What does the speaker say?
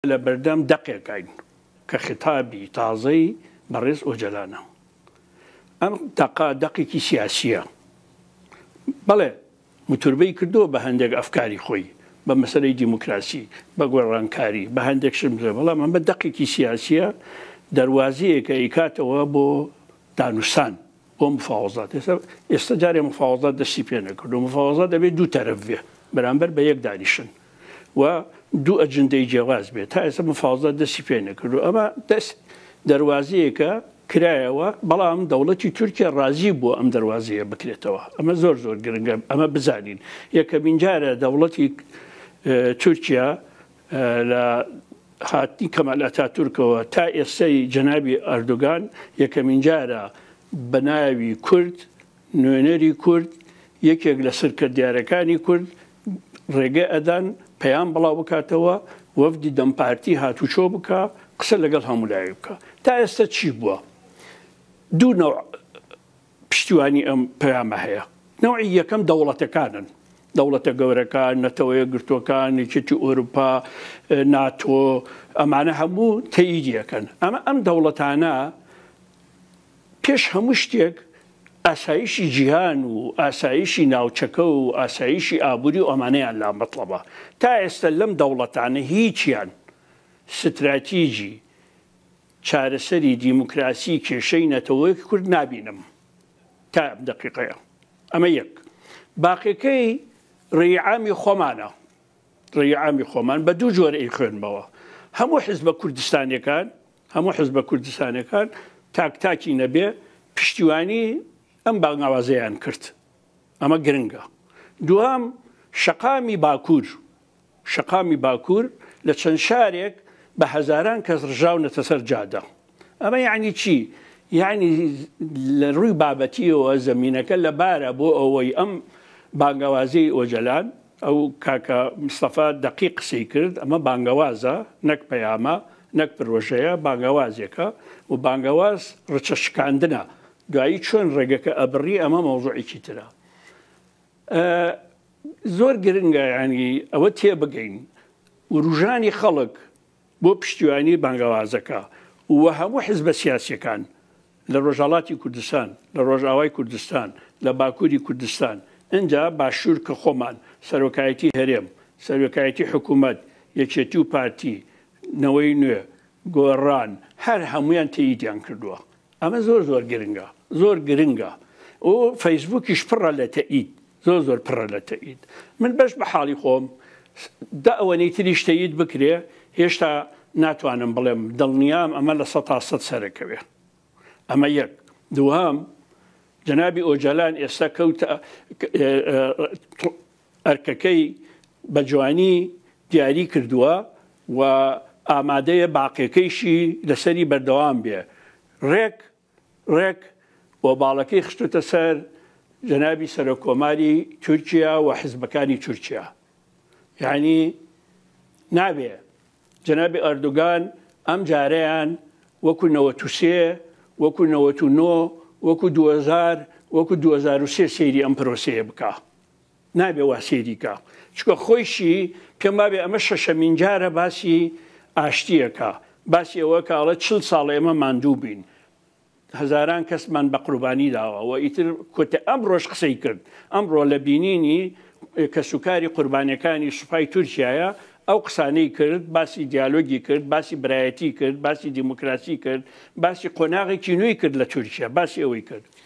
لە بەردەم دەقێکاین کە خیتابی تازەی بەڕێز ئۆجەلانە. ئەم دەقە دەقێکی سیاسییە. بەڵێ متوربەی کردووە بە هەندێک ئەفکاری خۆی، بە مەسەلەی دیموکراسی، بە گۆڕانکاری، بە هەندێک شت بڵێ بەڵام ئەمە دەقێکی سیاسییە، دەروازەیەکە ئەیکاتەوە بۆ دانوستان، بۆ مفاوەزات. ئێستا ئێستا جارێ مفاوەزات دەستی پێ نەکردووە. مفاوەزات ئەبێ دوو تەرەف بێ بەرامبەر بە یەک دانیشن. و دوو ئەجندەی جیاواز بێت تا ئێستا مفاوزات دەستی پێ نەکردوە ئەمە دەست دەروازەیەکە کرایەوە بەڵام دەوڵەتی تورکیا ڕازی بووە ئەم دەروازەیە بکرێتەوە ئەمە زۆر زۆر گرنگە ئەمە بزانین یەکەمین جارە دەوڵەتی تورکیا لە هاتنی کەمال ئەتا تورکەوە تا ئێستای جەنابی ئەردوگان یەکەمین جارە بە ناوی کورد نوێنەری کورد، یەکێک لە سرکردیارەکانی کورد ڕێگە ئەدان پەیام بڵاو بکاتەوە، وەفدی دەم پارتی هاتوچۆ بکا، قسە لەگەڵ هەموو لایەک بکا. تا ئێستە چی بووە؟ دوو نەوع پشتیوانی ئەم پەیامە هەیە. نەوعی یەکەم دەوڵەتەکانن. دەوڵەتە گەورەکان، نەتەوە یەکگرتووەکان، یەکێتی ئۆرووپا، ناتۆ، ئەمانە هەموو تەییدی ئەکەن. ئەمە ئەم دەوڵەتانە پێش هەموو شتێک ئاسایشی جیهان و ئاسایشی ناوچەکە و ئاسایشی ئابووری و ئەمانەیان لا مەتڵەبە. تا ئێستە لەم دەوڵەتانە هیچیان ستراتیجی چارەسەری دیموکراسی کێشەی نەتەوەی کورد نابینم تا ئەم دەقیقەیە. ئەمە یەک. باقیەکەی ڕێی عامی خۆمانە. ڕێی عامی خۆمان بە دوو جۆر ئەیخوێنمەوە. هەموو حزبە کوردستانیەکان هەموو حزبە کوردستانیەکان تاک تاکی نەبێ پشتیوانی ئەم بانگاوازەیان کرد ئەمە گرنگە دوام شەقامی باکوور شەقامی باکوور لە چەند شارێک بە هەزاران کەس ڕژاونەتە سەر جادە ئەمە یعنی چی یعنی لە ڕووی بابەتیەوە زمینینەکە لەبارە بۆ ئەوەی ئەم بانگاوازی ئۆجلان ئەو کاکە مستەفا دەقیق قسەی کرد ئەمە بانگەوازە نەک پەیامە نەک پرۆژەیە بانگەوازێکە و بانگەواز رچە شکاندنە دوایی چۆن رێگەکە ئەبڕی ئەمە مەوزوعێکی ترە ئە زۆر گرنگە یانی ئەوە تێبگەین وروژانی خەڵک بۆ پشتیوانی بانگەوازەکە و هەموو حزبە سیاسیەکان لە رۆژهەڵاتی کوردستان، لە رۆژئاوای کوردستان، لە باکوری کوردستان، ئنجا باشور کە خۆمان، سەرۆکایەتی هەرێم، سەرۆکایەتی حکومەت، یەکێتی و پارتی، نەوەی نوێ، گۆڕان، هەر هەموویان تەییدیان کردووە. ئەمە زۆر زۆر گرنگە زۆر گرنگە و فەیسبووکیش پڕە لە تەئید زۆر زۆر پڕە لە تەئید من بەش بە حاڵی خۆم دا ئەوەنەی تریش تەید بکرێ هێشتا ناتوانم بڵێم دڵنیام ئەمە لە سە تا سەد سەرەکەوێ ئەمە یەک دوهام جنابی ئۆجالان ئێستا کەوتە ئەرکەکەی بە جوانی دیاری کردووە و ئامادەیە باقیەکەیشی لەسەری بەردەوام بێ ڕێک ڕێک و باڵەکەی خستووتە سەر جەنابی سەرۆک کۆماری تورکیا و حزبەکانی تورکیا یانی نابێ جەنابی ئەردوگان ئەم جارەیان وەکو نەوەت و سێ وەکو نەوەت و نۆ وەکو دوهەزار وەکو دوهەزار و سێ سەیری ئەم پرۆسەیە بکا نابێ وا سەیری کا چونکە خۆیشی پێم وابێ ئەمە شەشەمین جارە باسی ئاشتیەکا باسی ئەوە کە ئەڵێ چل ساڵ ئێمە ماندوو بین هەزاران کەسمان بە قوربانی داوە و ئیتر کوتە ئەم ڕۆژ قسەی کرد ئەمڕۆ لە بینینی کەسوکاری قوربانەکانی سوپای تورکایە ئەو قسانەی کرد باسی دیالۆگی کرد باسی برایەتی کرد باسی دیموکراسی کرد باسی قۆناغێکی نوێی کرد لە تورکیا باسی ئەوەی کرد